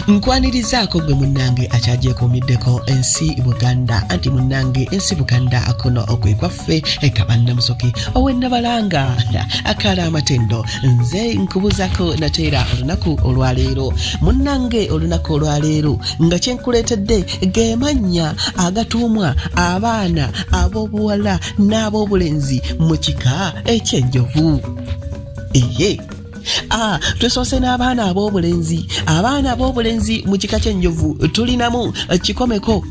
nkwanirizaako gwe munnange akyagyekomiddeko ensi buganda anti munnange ensi buganda akuno okwe kwaffe ekabannamusoke owennabalanga akaala amatendo nze nkubuzako nateera olunaku olwaleero munnange olunaku olwaleero nga kyenkuleetedde gemannya agatuumwa abaana ab'obuwala n'ab'obulenzi mu kika ekyenjovu eye Ah, tusoose n'abaana ab'obulenzi abaana ab'obulenzi mu kika ky'enjovu tulinamu eh, kikomeko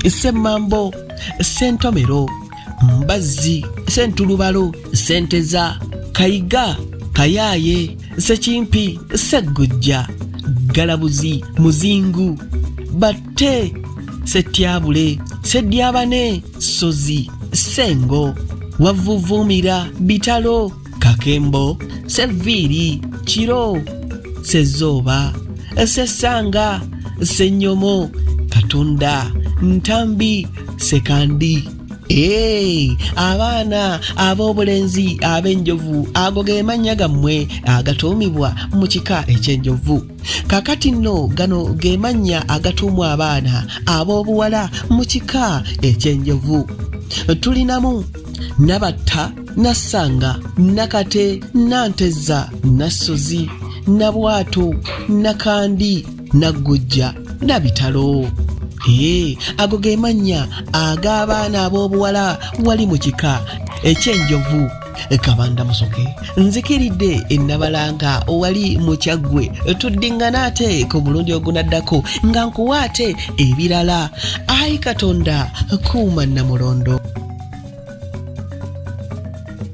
semmambo sentomero mbazzi sentulubalo senteza kayiga kayaaye sekimpi seggujja galabuzi muzingu batte setyabule sedyabane sozi sengo wavvuvuumira bitalo kakembo seviiri kiro sezooba sesanga senyomo katunda ntambi sekandi Hey, abaana ab'obulenzi ab'enjovu ago ge mannya gammwe agatuumibwa mu kika eky'enjovu kakati nno gano ge mannya agatuumwa abaana ab'obuwala mu kika eky'enjovu tulinamu nabatta Nassanga, Nakate, Nantezza, Nassozi, Nabwato, Nakandi, Naggujja, Nabitalo. Hee, ago ge mannya ag'abaana ab'obuwala wali mu kika eky'enjovu kabanda musoke nzikiridde ennabalanga wali mukyaggwe tuddiŋŋana ate ku mulundi ogunaddako nga nkuwa ate ebirala ayi katonda kuuma namulondo